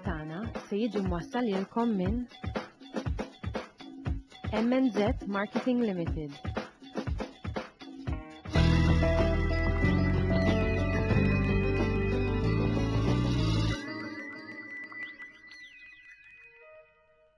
tagħna se jiġi mwassal lilkom minn MNZ Marketing Limited.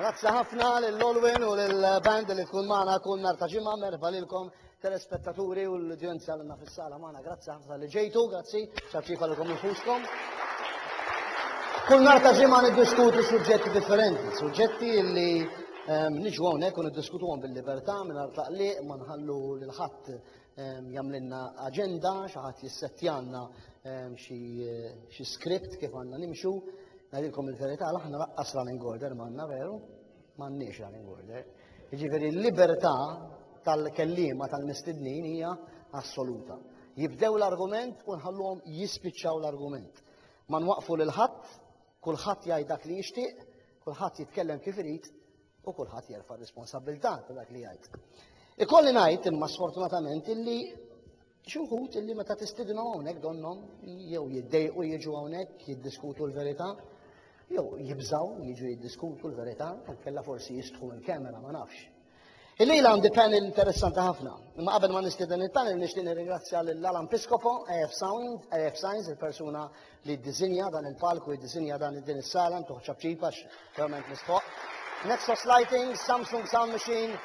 Grazzi ħafna lil Olwyn u lil band li tkun magħna kull nhar ta' ġimgħa merħba lilkom telespettaturi u l-udjenza l fis-sala magħna. Grazzi ħafna li ġejtu, grazzi, ċaċċifa lilkom infuskom. Kull nar ta' ġimgħa niddiskutu suġġetti differenti, suġġetti li ehm, niġu hawnhekk u niddiskutuhom bil-libertà mingħajr taqliq ma nħallu lil ħadd jagħmlilna aġenda, xi ħadd jissettjalna xi skript kif għandna nimxu. Ngħidilkom il-verità aħna laqqas running order m'għandna veru, m'għandniex running order. Jiġifieri l-libertà tal-kellima tal-mistednin hija assoluta. Jibdew l-argument u nħalluhom jispiċċaw l-argument. Ma nwaqfu lil ħadd, kulħadd jgħid dak li jixtieq, kulħadd jitkellem kif irid u kulħadd jerfa' r-responsabbiltà ta' dak li jgħid. Ikolli ngħid imma sfortunatament illi xi wħud illi meta tistidinhom hawnhekk donnhom jew jiddejqu jiġu hawnhekk jiddiskutu l-verità jew jibżaw jiġu jiddiskutu l-verità kellha forsi jistħu l-kamera ma nafx. Illejl għandi panel interessanti ħafna. Imma qabel ma nistieden il-panel nixtieq nirringrazzja lil Alan Piscopo, AF Sound, AF Signs, il-persuna li ddisinja dan il-palku, jiddisinja dan din is-sala, ntuħ ċapċip għax verament mistħoq. Nexos Lighting, Samsung Sound Machine,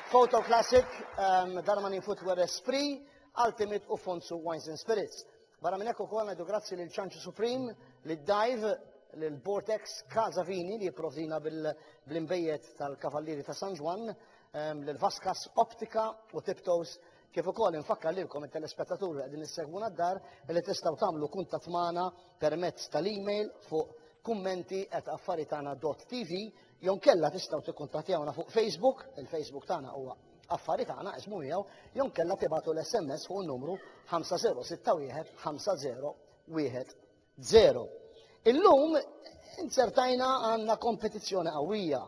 Photo Classic, um, Darmanin Footwear Esprit, Ultimate u Fonsu Wines and Spirits. Barra minn hekk ukoll ngħidu grazzi lil Ċanċu Supreme, lil Dive, lil Bortex, Kaza Vini li jipprovdina bil-imbejjed tal-Kavallieri ta' San Ġwan, um, lil Vaskas Optika u Tiptoes Kif ukoll infakkar lilkom it-telespettaturi li qegħdin issegwuna d-dar li tistgħu tagħmlu kuntatt magħna permezz tal-email fuq kummenti@affaritana.tv jew kella tistgħu tikkuntattjawna fuq Facebook, il-Facebook tagħna huwa affari tagħna ismu miegħu, jew kella tibatu l-SMS fuq numru 5061 50 Zero. Illum inzertajna għandna kompetizzjoni qawwija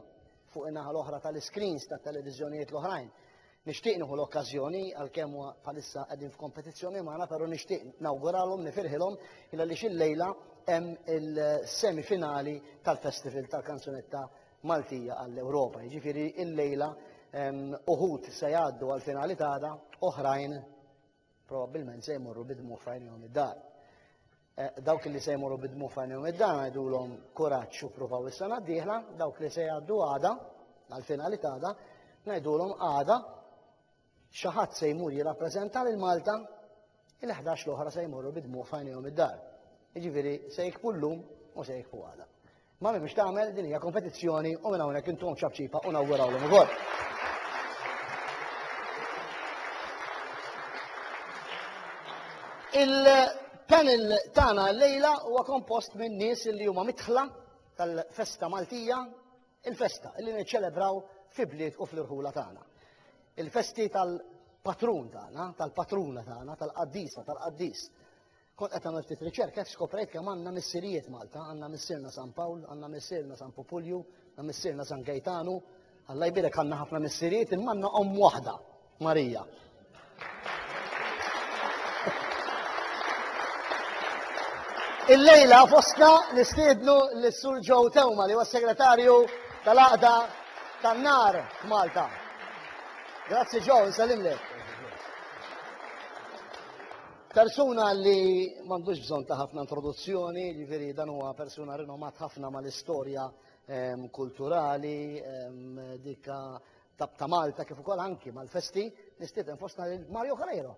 fuq in-naħa l-oħra tal-iskrins tat-televiżjonijiet l-oħrajn. Nixtieq nieħu l-okkażjoni għalkemm huwa bħalissa qegħdin f'kompetizzjoni magħna, però nixtieq nawguralhom nifirħilhom il għaliex illejla hemm il-semi finali tal-Festival tal-Kanzunetta Maltija għall-Ewropa. Jiġifieri illejla ehm, uħud se jgħaddu għall-finali tagħna, oħrajn Probabbilment se jmorru bidmu f'għajnejhom id-dar. Eh, dawk li se jmorru bidmu f'għajnejhom id-dar ngħidulhom kuraġġ u provaw is-sena d-dieħla, dawk li se jgħaddu għada, għal-finali għada, ngħidulhom għada xi ħadd se jmur jirrappreżenta lil Malta il-11 l-oħra se jmorru bidmu f'għajnejhom id-dar. Jiġifieri se jikbu llum u se jikbu għada. Mami mhux tagħmel din hija kompetizzjoni u minn hawnhekk intom ċapċipa u nawgurawlhom ukoll. Il-panel tagħna llejla huwa kompost minn nies li huma mitħla tal-festa Maltija, il-festa li niċċelebraw fi bliet u fl-irħula tagħna. Il-festi tal-patrun tagħna, tal-patruna tagħna, tal-qaddisa, tal-qaddis. Kont qed nagħmel ftit riċerka hekk skoprejt kemm għandna missirijiet Malta, għandna missierna San Pawl, għandna missierna San Pupulju, għandna missierna San Gejtanu, Alla jbirek għandna ħafna missirijiet imma għandna omm waħda, Marija. Il-lejla fosna nistiednu l-Sur Joe Tewma li huwa segretarju tal-Aqda tan-Nar f'Malta. Grazzi Joe, nsalimlek. Persuna li m'għandux bżonn ta' ħafna introduzzjoni, jiġifieri dan huwa persuna rinomat ħafna mal-istorja ehm, kulturali, ehm, dikka ta' Malta kif ukoll anki mal-festi, nistieden fostna lil Mario Carreiro.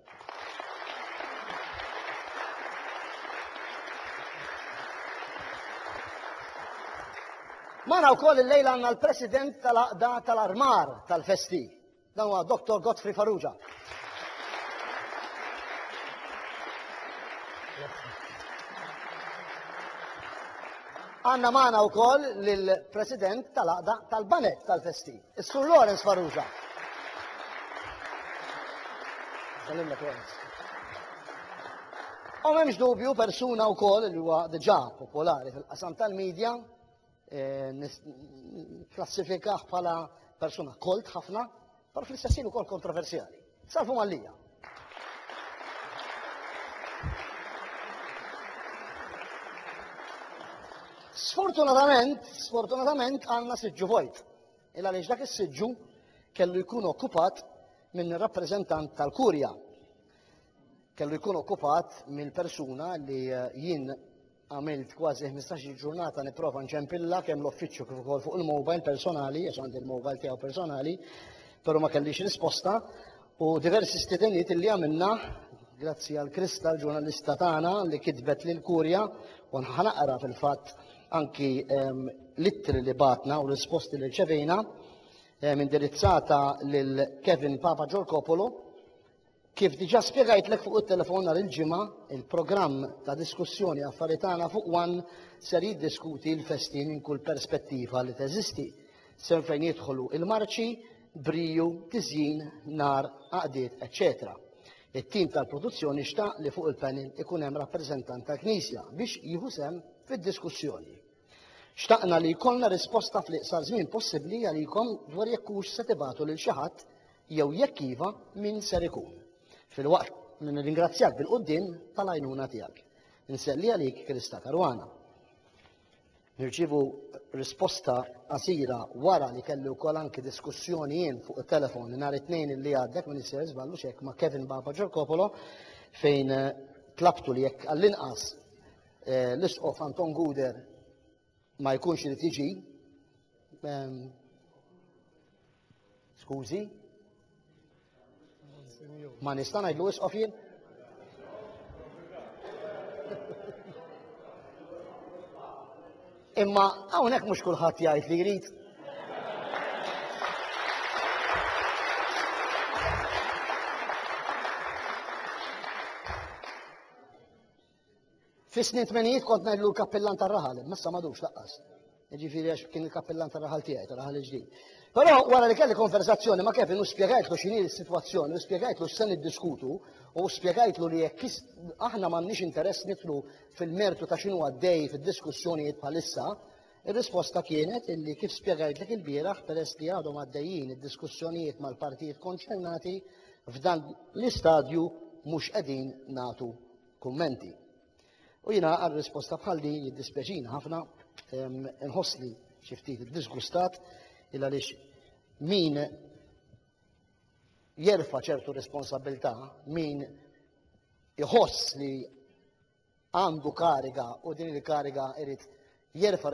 Mana u koll il-lejla għanna l-president tal-aqda tal-armar tal-festi. Dan huwa Dottor Godfrey Farrugia. Għanna maħna u koll l-President tal-Aqda tal-Banek tal-Festi, Sur Lawrence Faruza. U memx dubju persuna u koll li huwa diġa popolari fil-qasam tal-medja klassifikah bħala persuna kolt ħafna, par fl-istessin u kol kontroversjali. Salfu mallija. Sfortunatament, sfortunatament għanna siġġu vojt. Il għaliex dak is-siġġu kellu jkun okkupat minn rappreżentant tal-kurja. Kellu jkun okkupat mill persuna li jien Għamilt kważi ħmistax-il ġurnata nipprova nċempilla kemm l-uffiċċju kif ukoll fuq il-mobile personali, għax għandi l-mobile tiegħu personali, però ma kellix risposta u diversi stidenijiet li għamilna grazzi għal Krista l-ġurnalista tagħna li kitbet lil Kurja u naqra fil-fatt anki ehm, l-ittri li batna u risposti li rċevejna ehm, indirizzata lil Kevin Papa Ġorkopolo Kif diġà spjegajtlek fuq it-telefon nhar il-Ġimgħa, il-programm ta' diskussjoni Affarijiet Tagħna fuq one ser jiddiskuti l-festi minn kull perspettiva li teżisti, sew fejn jidħlu l-marċi, briju, tiżjin, nar, għaqdiet, eċċetera It-tim tal-produzzjoni xtaq li fuq il-panel ikun hemm rappreżentant tal-Knisja biex jieħu sehem fid-diskussjoni. Xtaqna li jkollna risposta fl-iqsar żmien possibbli għalikom dwar jekk hux se tibagħtu lil xi ħadd jew jekk iva min ser ikun. Filwaqt li nirringrazzjak bil-quddiem tal-għajnuna tiegħek. Inselli għalik Krista Caruana. Nirċievu risposta qasira wara li kelli wkoll anki diskussjoni jien fuq it-telefon nhar it-tnejn li għaddek minn isser żballu xek ma' Kevin Baba Ġorkopolo fejn eh, tlabtu li jekk għall-inqas Eh, L-Isqof Anton Guder ma jkunx irid jiġi. Ehm, Skużi. Ma nista' ngħidlu isqof jien? Imma hawnhekk mhux kulħadd jgħid li jrid. Fis-snin tmenijiet kont ngħidlu l-kappillan tar-raħal, imma issa m'għadux laqqas. Jiġifieri għax kien il-kappillan tar-raħal tiegħi, tar-raħal il-ġdid. Però wara li kelli konversazzjoni ma' Kevin u spjegajtlu x'inhi s-sitwazzjoni u spjegajtlu x'se niddiskutu u spjegajtlu li jekk aħna m'għandniex interess nidħlu fil-mertu ta' x'inhu għaddej fid-diskussjonijiet bħalissa, ir-risposta kienet illi kif spjegajtlek ilbieraħ peress li għadhom għaddejjin id-diskussjonijiet mal-partijiet konċernati f'dan l-istadju mhux qegħdin nagħtu kummenti. U jiena għal risposta bħal din jiddispjaċini ħafna nħossni xi ftit iddisgustat il għaliex min jerfa' ċertu responsabilità, min iħoss li għandu kariga u din il-kariga irid jerfa'